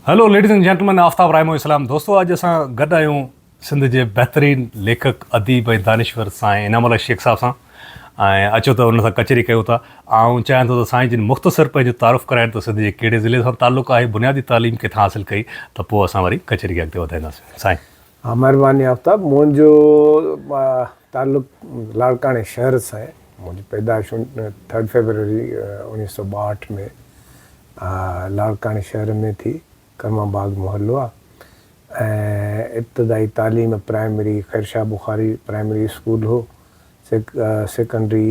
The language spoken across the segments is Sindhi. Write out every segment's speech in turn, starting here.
Hello ladies and gentlemen Aftab Raimo اسلام دوستو اڄ اسان گڏ آهيون سنڌ جي بهترين ليکڪ اديب ۽ دانشور سائين انعام الله شيخ صاحب سان ۽ اچو ته ان سان ڪچهري ڪيون ٿا آئون چاهيان ٿو ته سائين جن مختصر پنهنجو تعارف ڪرائين ته سنڌ جي ڪهڙي ضلعي سان تعلق آهي بنيادي تعليم ڪٿان حاصل ڪئي ته پوء اسان وري ڪچهري کي اڳتي وڌائينداسين سائين ها مهرباني آفتاب منهنجو تعلق لاڙڪاڻي شهر سان آهي منهنجي پيدائش ٿرڊ فيبروري اوڻيهه سؤ ٻاهٺ ۾ لاڙڪاڻي شهر ۾ ٿي ڪرم آباد محلو آهي ۽ ابتدائي تعليم primary Khairshah Bukhari primary school هو سيڪنڊري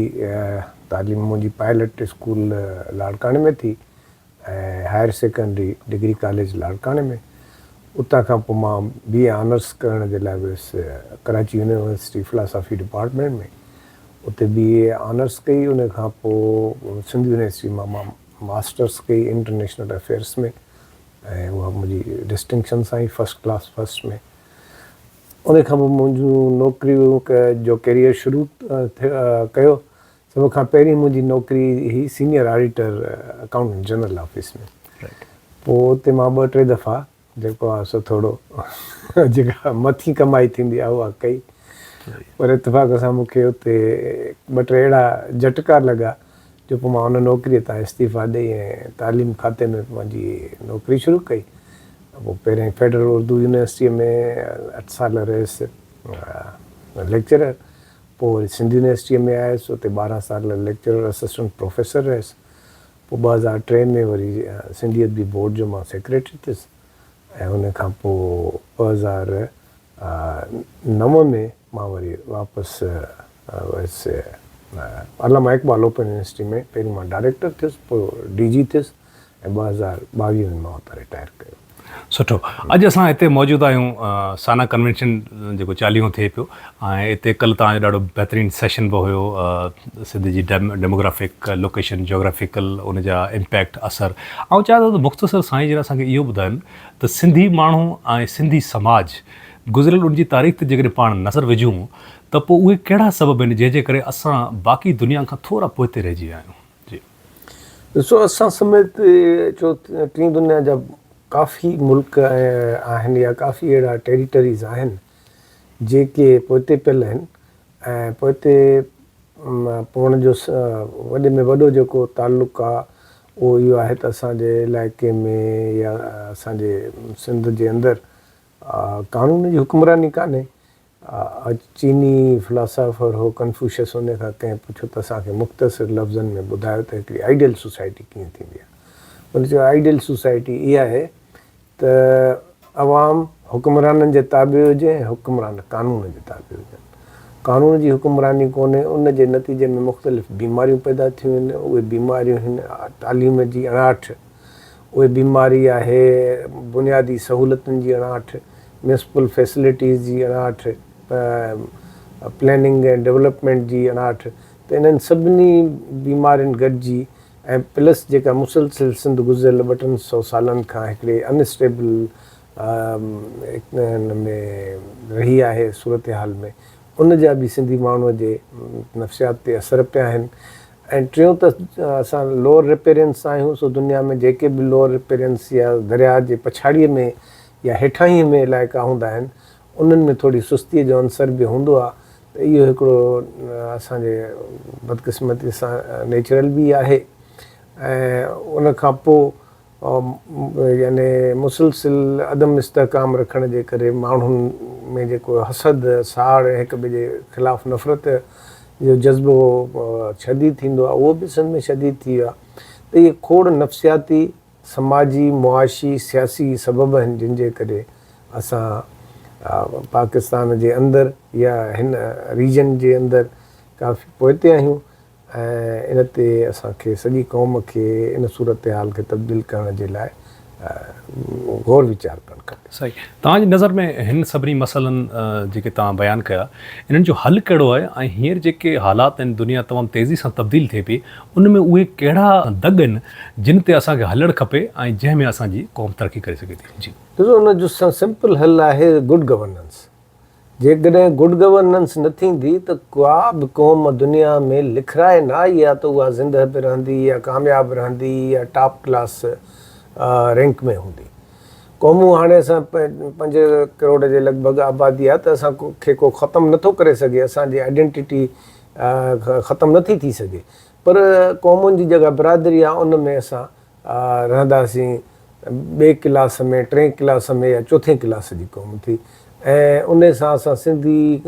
تعليم منهنجي پائلٽ اسڪول لاڙڪاڻي ۾ ٿي ۽ هائر سيڪنڊري ڊگري ڪاليج لاڙڪاڻي ۾ اتان کان پوء مان بي اي آنرس ڪرڻ جي لاء ويس ڪراچي يونيورسٽي فلاسافي ڊپارٽمينٽ ۾ اتي بي اي آنرس ڪئي ان کان پوء سنڌ يونيورسٽي مان مان ماسٽرس ڪئي انٽرنيشنل افيئرس ۾ ۽ اها منهنجي ڊسٽنڪشن سان ئي فرسٽ ڪلاس فرسٽ ۾ ان کان پوء منهنجون نوڪريون جو ڪيريئر شروع ڪيو سڀ کان پهرين منهنجي نوڪري هئي senior auditor accountant general office ۾ پوء اتي مان ٻه ٽي دفعا جيڪو آهي سو ٿورو جيڪا مٿين ڪمائي ٿيندي آهي اها ڪئي پر اتفاق سان مون کي اتي ٻه ٽي اهڙا جهٽڪا لڳا جو پوء مان ان نوڪري تان استعيفا ڏئي ۽ تعليم کاتي ۾ پنهنجي نوڪري شروع ڪئي پوء پهرين فيڊرل اردو يونيورسٽيء ۾ اٺ سال رهيس ليڪچرر پوء وري سنڌ يونيورسٽيء ۾ آيس، اتي ٻارهن سال ليڪچرر اسسٽنٽ پروفيسر رهيس. پوء ٻه هزار ٽي ۾ وري سنڌي ادبي بورڊ جو مان سيڪريٽري ٿيس ۽ ان کان پوء ٻه هزار نو ۾ مان وري واپس ويس. علامه اقبال اوپن يونيورسٽيء ۾ پهرين مان ڊائريڪٽر ٿيس، پوء ڊي جي ٿيس. ۽ ٻه هزار ٻاويهه ۾ مان اتان رٽائر ڪيو. سٺو. اڄ اسان هتي موجود آهيون سانا ڪنوينشن جيڪو چاليهون ٿئي پيو ۽ اتي ڪل توهان جو ڏاڍو بهترين سيشن به هيو سنڌ جي ڊيموگرافڪ لوڪيشن جاگرافيڪل ان جا امپيڪٽ اثر آئون چاهيان ٿو ته مختصر سائين جن اسان کي اهو ٻڌائن ته سنڌي ماڻهو ۽ سنڌي سماج گذريل ان جي تاريخ تي جيڪڏهن پاڻ نظر وجهون ته پوء اهي ڪهڙا سبب آهن جنهن جي ڪري اسان باقي دنيا کان ٿورا پوئتي رهجي ويا آهيون. جي ڏسو اسان سميت چو ٽين دنيا جا ڪافي ملڪ آهن يا ڪافي اهڙا ٽيريٽريز آهن جيڪي پوئتي پيل آهن ۽ پوئتي پوڻ جو وڏي ۾ وڏو جيڪو تعلق آهي اهو اهو آهي ته اسان جي علائقي ۾ يا اسان جي سنڌ جي اندر قانون جي حڪمراني ڪانهي اڄ چيني فلاسافر هو ڪنفوشس ان کان ڪنهن پڇيو ته اسان کي مختصر لفظن ۾ ٻڌايو ته هڪڙي آئيڊيل سوسائٽي ڪيئن ٿيندي آهي؟ هن چيو آئيڊيل سوسائٽي اها آهي ته عوام حڪمرانن جي تابع هجي ۽ حڪمران قانون جي تابع هجن. قانون جي حڪمراني ڪونهي ان جي نتيجي ۾ مختلف بيماريون پيدا ٿيون هن اهي بيماريون هن تعليم جي اڻاٺ، اهي بيماري آهي بنيادي سهولتن جي اڻاٺ، ميونسپل فيسلٽيز جي اڻاٺ، پليننگ ۽ ڊولپمينٽ جي اڻاٺ ته انهن سڀني بيمارين گڏجي ۽ پلس جيڪا مسلسل سنڌ گذريل ٻه ٽن سئو سالن کان هڪڙي ان اسٽيبل ان ۾ رهي آهي صورتحال ۾ ان جا به سنڌي ماڻهو جي نفسيات تي اثر پيا آهن ۽ ٽيون ته اسان لوئر رپيرين سان آهيون سو دنيا ۾ جيڪي به لوئر رپيرينس يا درياء جي پڇاڙيء ۾ يا هيٺاهينء ۾ علائقا هوندا آهن انهن ۾ ٿوري سستيء جو عنصر به هوندو آهي ته اهو هڪڙو اسان جي بدقسمتيء سان نيچرل به آهي ۽ ان کان پوء يعني مسلسل عدم استحڪام رکڻ جي ڪري ماڻهن ۾ جيڪو حسد، ساڙ ۽ هڪ ٻئي جي خلاف نفرت جو جذبو شديد ٿيندو آهي اهو به سنڌ ۾ شديد ٿي ويو آهي ته اهي کوڙ نفسياتي، سماجي، معاشي، سياسي سبب آهن جن جي ڪري اسان پاڪستان جي اندر يا هن ريجن جي اندر ڪافي پوئتي آهيون ۽ ان تي اسان کي سڄي قوم کي ان صورتحال کي تبديل ڪرڻ جي لاء غور ويچار ڪرڻ کپي. سائين توهان جي نظر ۾ هن سڀني مسئلن جيڪي توهان بيان ڪيا انهن جو حل ڪهڙو آهي ۽ هينئر جيڪي حالات آهن دنيا تمام تيزي سان تبديل ٿئي پئي ان ۾ اهي ڪهڙا دڳ آهن جن تي اسان کي هلڻ کپي ۽ جنهن ۾ اسان جي قوم ترقي ڪري سگهي ٿي. جي. ڏسو ان جو سمپل حل آهي گڊ گورننس جيڪڏهن گڊ گورننس نه ٿيندي ته ڪا به قوم دنيا ۾ لکرائي نه آئي آ ته اها زنده به رهندي يا ڪامياب رهندي يا ٽاپ ڪلاس رينڪ ۾ هوندي. قومون هاڻي اسان پنج ڪروڙ جي لڳ ڀڳ آبادي آ ته اسان کي ڪو ختم نه ٿو ڪري سگهي اسان جي آئيڊينٽيٽي ختم نه ٿي ٿي سگهي پر قومن جي جيڪا برادري آ ان ۾ اسان رهنداسين ٻئي ڪلاس ۾ ٽئين ڪلاس ۾ يا چوٿين ڪلاس جي قوم ٿي ۽ انهي سان اسان سنڌي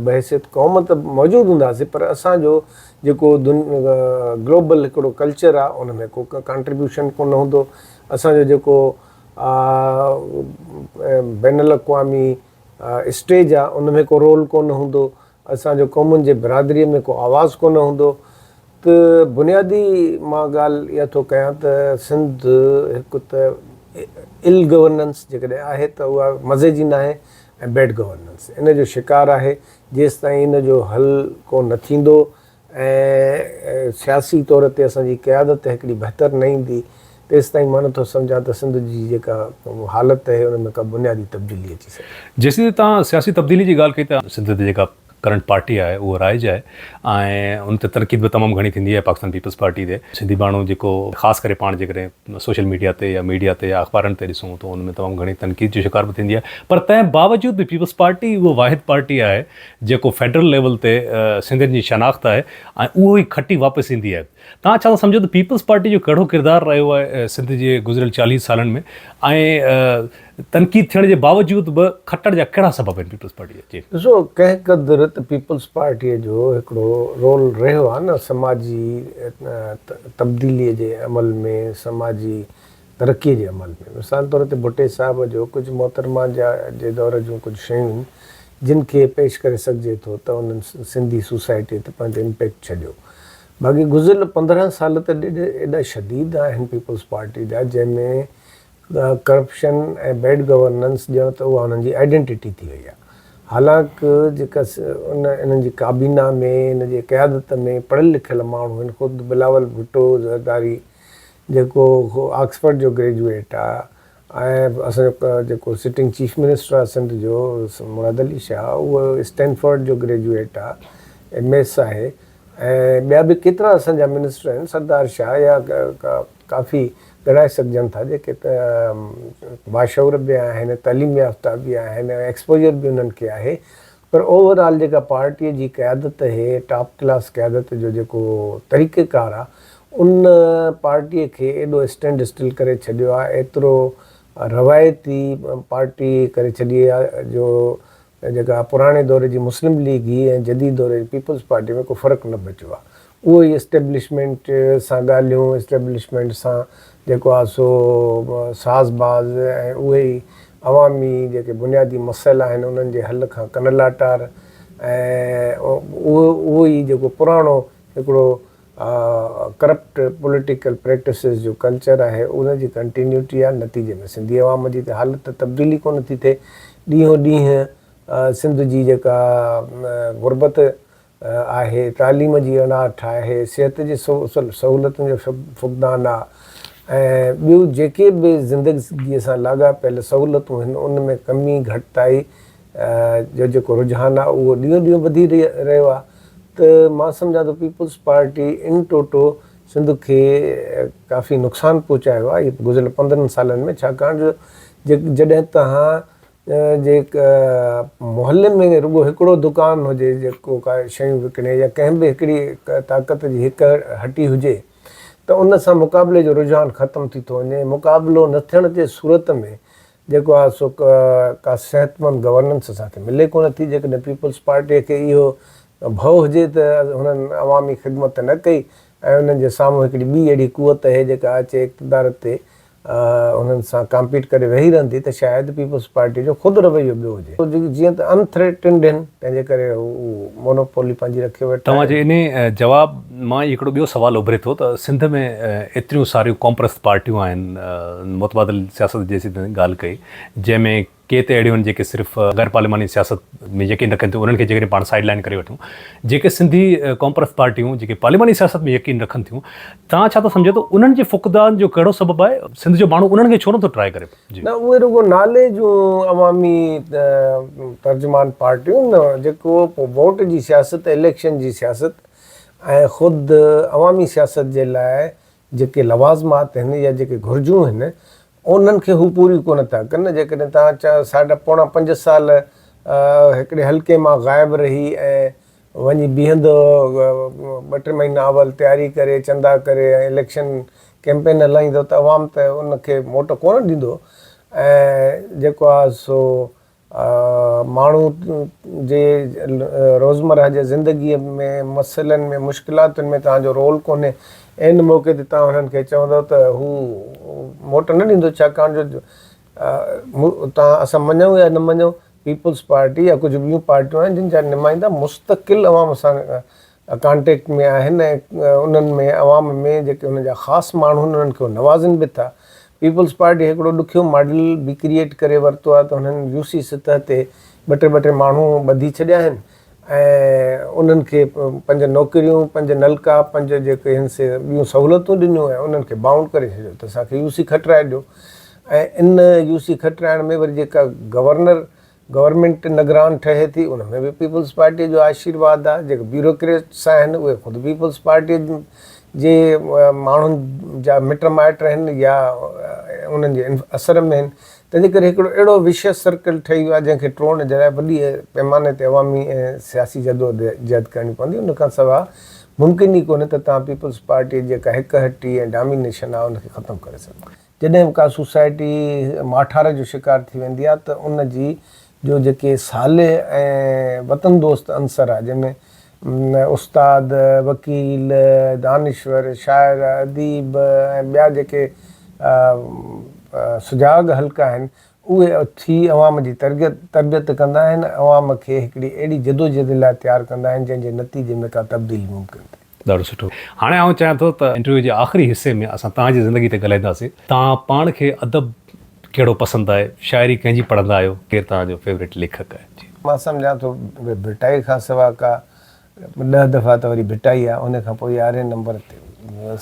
بحيثيت قوم ته موجود هونداسين پر اسان جو جيڪو گلوبل هڪڙو ڪلچر آ ان ۾ ڪو ڪانٽريبيوشن ڪونه هوندو اسان جو جيڪو بين الاقوامي اسٽيج آ ان ۾ ڪو رول ڪونه هوندو اسان جو قومن جي برادريء ۾ ڪو آواز ڪونه هوندو ته بنيادي مان ڳالهه اها ٿو ڪيان ته سنڌ هڪ ته ايل گورننس جيڪڏهن آهي ته اها مزي جي ناهي ۽ بيڊ گورننس ان جو شڪار آهي جيستائين ان جو حل ڪو نه ٿيندو ۽ سياسي طور تي اسان جي قيادت ته هڪڙي بهتر نه ايندي، تيستائين مان نٿو سمجهان ته سنڌ جي جيڪا حالت اهي ان ۾ ڪا بنيادي تبديلي اچي سگهي. جيسين تائين توهان سياسي تبديلي جي ڳالهه ڪئي ته سنڌ تي جيڪا ڪرنٽ پارٽي آهي اهو رائج آهي ۽ ان تي تنقيد به تمام گهڻي ٿيندي آهي پاڪستان پيپلز پارٽي تي سنڌي ماڻهو جيڪو خاص ڪري پاڻ جيڪڏهن سوشل ميڊيا تي يا ميڊيا تي يا اخبارن تي ڏسون ته ان ۾ تمام گهڻي تنقيد جو شڪار به ٿيندي آهي پر تنهن باوجود به پيپلز پارٽي اهو واحد پارٽي آهي جيڪو فيڊرل ليول تي سنڌين جي شناخت آهي ۽ اهو ئي کٽي واپس ايندي آهي. توهان ڇا ٿا سمجهو ته پيپلز پارٽي جو ڪهڙو ڪردار رهيو آهي سنڌ جي گذريل چاليهه سالن ۾ ۽ تنقيد ٿيڻ جي باوجود به کٽڻ جا ڪهڙا سبب آهن پيپلز پارٽي جا؟ جي. ڏسو ڪنهن قدر ته پيپلز پارٽي جو هڪڙو رول رهيو آهي نه سماجي تبديلي جي عمل ۾ سماجي ترقيء جي عمل ۾. مثال طور تي ڀٽي صاحب جو ڪجهه محترمه جا جي دور جون ڪجهه شيون جن کي پيش ڪري سگهجي ٿو ته انهن سنڌي سوسائٽيء تي پنهنجو امپيڪٽ ڇڏيو. باقي گذريل پندرهن سال ته ڏيڍ ايڏا شديد آهن پيپلز پارٽي جا جنهن ۾ ڪرپشن ۽ بيڊ گورننس ڄڻ ته اها انهن جي آئيڊينٽيٽي ٿي وئي آهي. حالانڪ جيڪا ان انهن جي ڪابينا ۾ ان جي قيادت ۾ پڙهيل لکيل ماڻهو آهن خود بلاول ڀٽو زرداري جيڪو آڪسفرڊ جو گريجوئيٽ آ ۽ اسان جو جيڪو سٽنگ چيف منسٽر آ سنڌ جو مراد علي شاهه اهو اسٽينفرڊ جو گريجوئيٽ آ ايم ايس آهي ۽ ٻيا به ڪيترا اسان جا منسٽر آهن سردار شاهه يا ڪافي ڳڻائي سگهجن ٿا جيڪي باشعور به آهن تعليم يافته به آهن ۽ ايڪسپوجر به انهن کي آهي پر اوور آل جيڪا پارٽيء جي قيادت اهي ٽاپ ڪلاس قيادت جو جيڪو طريقه ڪار آ ان پارٽيء کي ايڏو اسٽينڊ اسٽل ڪري ڇڏيو آ ايترو روايتي پارٽي ڪري ڇڏي آ جو جيڪا پراڻي دور جي مسلم ليگ هئي ۽ جديد دور جي پيپلز پارٽي ۾ ڪو فرق نه بچيو آ اهو ئي اسٽيبلشمينٽ سان ڳالهيون، اسٽيبلشمينٽ سان جيڪو آهي سو ساز باز ۽ اهي ئي عوامي جيڪي بنيادي مسئلا آهن انهن جي حل کان ڪن لاٽار ۽ اهو ئي جيڪو پراڻو هڪڙو ڪرپٽ پوليٽيڪل پريڪٽسز جو ڪلچر آهي ان جي ڪنٽينيوٽي آهي نتيجي ۾ سنڌي عوام جي ته حالت ته تبديل ئي ڪونه ٿي ٿئي ڏينهون ڏينهن سنڌ جي جيڪا غربت آهي، تعليم جي اڻاٺ آهي، صحت جي سهولتن جو فقدان آ ۽ ٻيون جيڪي به زندگي سان لاڳاپيل سهولتون آهن ان ۾ ڪمي گهٽتائي جو جيڪو رجحان آ اهو ڏينهون ڏينهن وڌي رهيو آ ته مان سمجهان ٿو پيپلز پارٽي ان ٽوٽو سنڌ کي ڪافي نقصان پهچايو آ گذريل پندرهن سالن ۾ ڇاڪاڻ جو جڏهن توهان جي محلي ۾ رڳو هڪڙو دڪان هجي جيڪو ڪا شيون وڪڻي يا ڪنهن به هڪڙي طاقت جي هڪ هٽي هجي ته ان سان مقابلي جو رجحان ختم ٿي ٿو وڃي. مقابلو نه ٿيڻ جي صورت ۾ جيڪو آهي سو ڪا صحتمند گورننس اسان کي ملي ڪونه ٿي. جيڪڏهن پيپلز پارٽيء کي اهو ڀؤ هجي ته هنن عوامي خدمت نه ڪئي ۽ انهن جي سامهون هڪڙي ٻي اهڙي قوت اهي جيڪا اچي اقتدار تي انهن سان ڪامپيٽ ڪري ويهي رهندي ته شايد پيپلز پارٽي جو خود رويو ٻيو هجي. جيئن ته ان ٿريٽنڊ هن، تنهنجي ڪري هو مونوپولي پنهنجي رکي ويٺا آهن. توهان جي انهي جواب مان ئي هڪڙو ٻيو سوال اڀري ٿو ته سنڌ ۾ ايتريون ساريون قومپرست پارٽيون آهن، متبادل سياست جي اسين ڳالهه ڪئي، جنهن ۾ ڪي ته اهڙيون آهن جيڪي صرف غير پارلياماني سياست ۾ يقين رکن ٿيون انهن کي جيڪڏهن پاڻ سائيڊ لائين ڪري وٺون جيڪي سنڌي قومپرست پارٽيون جيڪي پارلياماني سياست ۾ يقين رکن ٿيون توهان ڇا ٿا سمجهو ته انهن جي فقدان جو ڪهڙو سبب آهي سنڌ جو ماڻهو انهن کي ڇو نٿو ٽرائي ڪري جي. نه اهي رڳو نالي جون عوامي ترجمان پارٽيون نه جيڪو پو ووٽ جي سياست اليڪشن جي سياست ۽ خود عوامي سياست جي لاء جيڪي لوازمات هن يا جيڪي گهرجون هن انهن کي هو پوريون ڪونه ٿا ڪن. جيڪڏهن توهان چار ساڍا پوڻا پنج سال هڪڙي حلقي مان غائب رهي ۽ وڃي بيهندؤ، ٻه ٽي مهينا اول تياري ڪري، چندا ڪري ۽ اليڪشن ڪئمپين هلائيندؤ ته عوام ته ان کي موٽ ڪونه ڏيندو ۽ جيڪو آهي سو ماڻهو جي روزمره جي زندگيء ۾ مسئلن ۾ مشڪلاتن ۾ توهان جو رول ڪونهي، عين موقعي تي توهان هنن کي چوندؤ ته هو موٽ نه ڏيندو ڇاڪاڻ جو توهان اسان مڃون يا نه مڃون پيپلز پارٽي يا ڪجهه ٻيون پارٽيون آهن جن جا نمائندا مستقل عوام سان ڪانٽيڪٽ ۾ آهن ۽ انهن ۾ عوام ۾ جيڪي انهن جا خاص ماڻهو آهن انهن کي هو نوازن به ٿا. پيپلز پارٽي هڪڙو ڏکيو ماڊل به ڪريئيٽ ڪري ورتو آهي ته انهن يو سي سطح تي ٻه ٽي ٻه ٽي ماڻهو ٻڌي ڇڏيا آهن ۽ انهن کي پنج نوڪريون پنج نلڪا پنج جيڪي آهن سي ٻيون سهولتون ڏنيون ۽ انهن کي بائونڊ ڪري ڇڏيو ته اسان کي يو سي کٽرائي ڏيو ۽ ان يو سي کٽرائڻ ۾ وري جيڪا گورنر گورنمينٽ نگران ٺهي ٿي ان ۾ به پيپلز پارٽي جو آشيرواد آهي جيڪي بيوروڪريٽس آهن اهي خود پيپلز پارٽي جي ماڻهن جا مٽ مائٽ آهن يا انهن جي اثر ۾ آهن تنهنجي ڪري هڪڙو اهڙو وشيس سرڪل ٺهي ويو آهي جنهن کي ٽوڙڻ جي لاء وڏي پيماني تي عوامي ۽ سياسي جدوجهد ڪرڻي پوندي ان کان سواء ممڪن ئي ڪونهي ته توهان پيپلز پارٽي جيڪا هڪ هٽي ۽ ڊامينيشن آهي ان کي ختم ڪري سگهو. جڏهن به ڪا سوسائٽي ماٺار جو شڪار ٿي ويندي آهي ته ان جي جو جيڪي صالح ۽ وطن دوست عنصر آهي جنهن ۾ استاد، وڪيل، دانشور، شاعر، اديب ۽ ٻيا جيڪي سجاڳ حلقا آهن اهي اٿي عوام جي تربيت ڪندا آهن ۽ عوام کي هڪڙي اهڙي جدوجهد لاء تيار ڪندا آهن جنهن جي نتيجي ۾ ڪا تبديلي ممڪن ٿئي. ڏاڍو سٺو. هاڻي آئون چاهيان ٿو ته انٽرويو جي آخري حصي ۾ اسان توهان جي زندگي تي ڳالهائينداسين. توهان پاڻ کي ادب ڪهڙو پسند آهي؟ شاعري ڪنهن جي پڙهندا آهيو؟ ڪير توهان جو فيوريٽ ليکڪ آهي؟ جي. مان سمجهان ٿو ڀٽائي کان سوا ڪا ڏهه دفعا ته وري ڀٽائي آهي ان کان پوء يارهين نمبر تي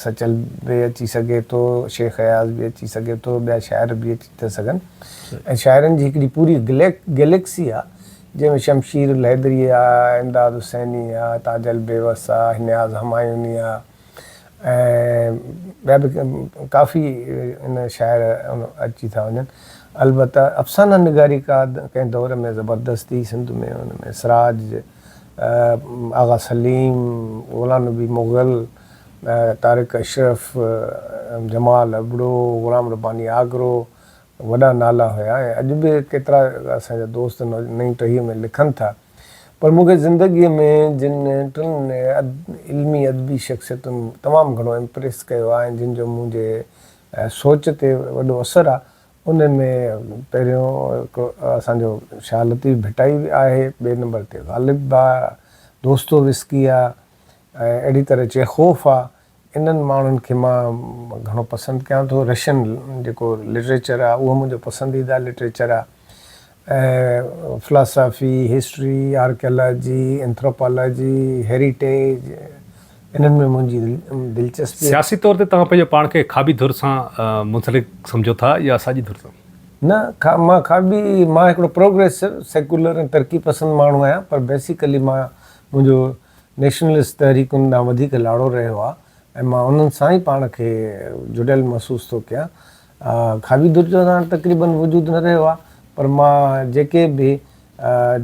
سچل به اچي سگهي ٿو، شيخ اياز به اچي سگهي ٿو، ٻيا شاعر به اچي ٿا سگهن ۽ شاعرن جي هڪڙي پوري گليڪ گليڪسي آهي جنهن ۾ شمشير الحيدري آ، امداد حسيني آ، تاج البيوس آ، نياز همايوني آ ۽ ٻيا به ڪافي ان شاعر اچي ٿا وڃن. البته افسانه نگاري ڪا ڪنهن دور ۾ زبردست هئي سنڌ ۾ ان ۾ سراج، آغا سليم، غلام نبي مغل، طارق اشرف، جمال ابڙو، غلام رباني آگرو، وڏا نالا هيا ۽ اڄ به ڪيترا اسان جا دوست نئين ٽهيء ۾ لکن ٿا پر مون کي زندگيء ۾ جن ٽن علمي ادبي شخصيتن تمام گهڻو امپريس ڪيو آهي ۽ جن جو منهنجي سوچ تي وڏو اثر آهي انهن ۾ پهريون هڪ اسان جو شاهه لطيف ڀٽائي آهي ٻئي نمبر تي غالب آهي دوستويسڪي آهي ۽ اهڙي طرح چيخوف آهي انهن ماڻهن کي مان گهڻو پسند ڪيان ٿو. رشين جيڪو لٽريچر آهي اهو منهنجو پسنديده لٽريچر آهي ۽ philosophy, history, archaeology, anthropology, heritage انهن ۾ منهنجي دلچسپي آهي. سياسي طور تي توهان پنهنجو پاڻ کي کاٻي ڌر سان منسلڪ سمجهو ٿا يا ساڄي ڌر سان؟ نه مان کاٻي مان هڪڙو پروگريسو، سيڪولر ۽ ترقي پسند ماڻهو آهيان پر بيسيڪلي مان منهنجو نيشنلسٽ تحريڪن ڏانهن وڌيڪ لاڙو رهيو آهي ۽ مان انهن سان ئي پاڻ کي جڙيل محسوس ٿو ڪيان. کاوي ڌر جو هاڻ تقريباً وجود نه رهيو آهي، پر مان جيڪي به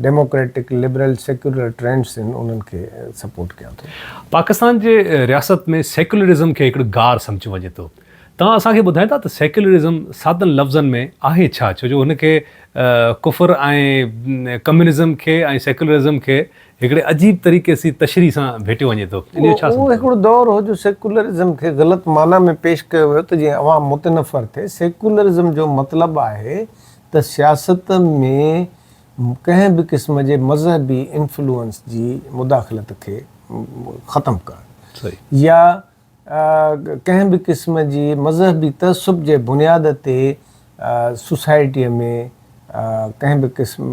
ڊيموڪريٽڪ، لبرل، سيڪيولر ٽرينڊس آهن، انهن کي سپورٽ ڪيان ٿو. پاڪستان جي رياست ۾ سيڪيولرزم کي هڪڙو گار سمجهيو وڃي ٿو. توهان اسان کي ٻڌائيندا ته سيڪيولرزم سادن لفظن ۾ آهي ڇا؟ ڇو جو هن کي ڪفر ۽ ڪميونزم کي ۽ سيڪيولرزم کي هڪڙي عجيب طريقي سي تشريح سان ڀيٽيو وڃي ٿو. ان جو ڇا سمجهه؟ اهو هڪڙو دور هو جو سيڪولرزم کي غلط معنيٰ ۾ پيش ڪيو ويو ته جيئن عوام متنفر ٿئي. سيڪولرزم جو مطلب آهي ته سياست ۾ ڪنهن به قسم جي مذهبي انفلوئنس جي مداخلت کي ختم ڪرڻ يا ڪنهن به قسم جي مذهبي تعصب جي بنياد تي سوسائٽيء ۾ ڪنهن به قسم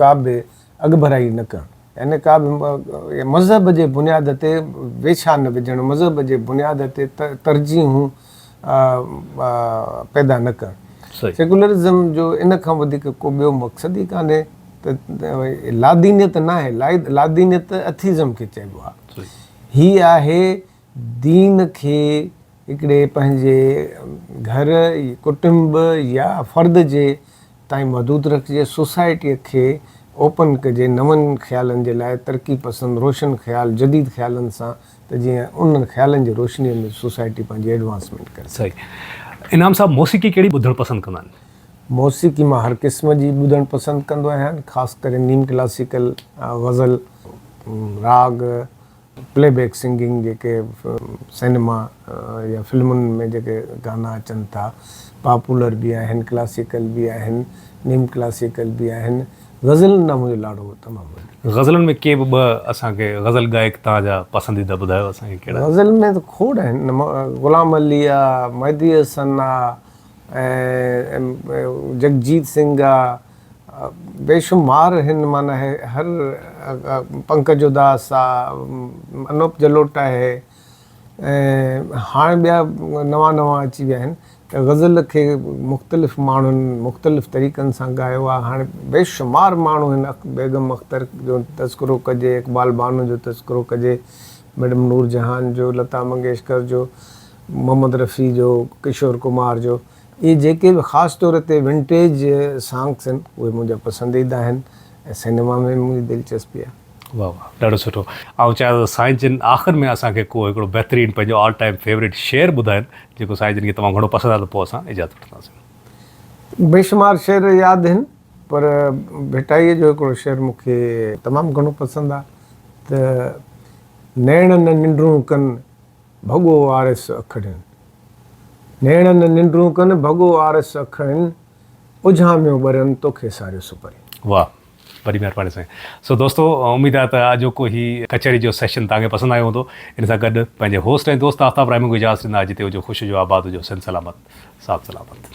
ڪا به اڳڀرائي نه ڪرڻ يعني ڪا به مذهب جي بنياد تي ويڇا نه وجهڻ، مذهب جي بنياد تي ترجيحون پيدا نه ڪرڻ. سيڪولرزم جو ان کان وڌيڪ ڪو ٻيو مقصد ئي ڪانهي ته لادينيت ناهي، لادينيت اٿيزم کي چئبو آهي. هي آهي دين کي هڪڙي پنهنجي گهر ڪٽنب يا فرد جي تائين محدود رکجي سوسائٽي کي اوپن ڪجي نون خيالن جي لاء ترقي پسند روشن خيال جديد خيالن سان ته جيئن انهن خيالن جي روشني ۾ سوسائٽي پنهنجي ايڊوانسمينٽ ڪري سگهي. صحيح. انعام صاحب موسيقي ڪهڙي ٻڌڻ پسند ڪندا آهن؟ موسيقي مان هر قسم جي ٻڌڻ پسند ڪندو آهيان خاص ڪري نيم ڪلاسيڪل، غزل، راڳ، پلي بيڪ سنگنگ جيڪي سينما يا فلمن ۾ جيڪي گانا اچن ٿا پاپولر به آهن ڪلاسيڪل به آهن نيم ڪلاسيڪل به آهن غزلن ڏانهن منهنجو لاڙو تمام وڏو. غزلن ۾ ڪي به ٻه اسان کي غزل گائڪ توهان جا پسنديده ٻڌايو اسان کي ڪهڙا. غزل ۾ ته کوڙ آهن غلام علي آ، مهدي حسن آ، ايم جگجيت سنگهه جا بيشمار هن معنيٰ هر پنڪج اداس آ انوپ جلوٽا آهي ۽ هاڻ ٻيا نوان نوان اچي ويا آهن ته غزل کي مختلف ماڻهن مختلف طريقن سان ڳايو آ هاڻ بيشمار ماڻهو هن بيگم اختر جو تذڪرو ڪجي اقبال بانو جو تذڪرو ڪجي ميڊم نور جهان جو لتا منگيشڪر جو محمد رفيع جو، ڪشور ڪمار جو، اهي جيڪي به خاص طور تي ونٽيج سانگس آهن اهي منهنجا پسنديده آهن ۽ سينيما ۾ به منهنجي دلچسپي آهي. واھ واھ ڏاڍو سٺو آئون چاهيان ٿو سائين جن آخر ۾ اسان کي ڪو هڪڙو بهترين پنهنجو آل ٽائيم فيوريٽ شعر ٻڌائن جيڪو سائين جن کي تمام گهڻو پسند آهي ته پوء اسان اجازت وٺنداسين. بيشمار شعر ياد آهن پر ڀٽائيء جو هڪڙو شعر مون کي تمام گهڻو پسند آهي ته نيڻ نه ننڊون ڪن. ڀڳو آرس اکڙين نيڻن ننڊون ڪن ڀڳو آرس اکڙين اجهاميون ٻرين توکي ساريو سپرين. واھ وڏي مھرباني سائين. سو دوستو اميد آھي ته آجوڪو ھي ڪچھري جو سيشن توھان کي پسند آيو ھوندو. ان سان گڏ پنھنجي ھوسٽ ۽ دوست آفتاب رحمون کي اجازت ڏيندا جتي ھجو خوش ھجو آباد ھجو سنڌ سلامت ساٿ سلامت.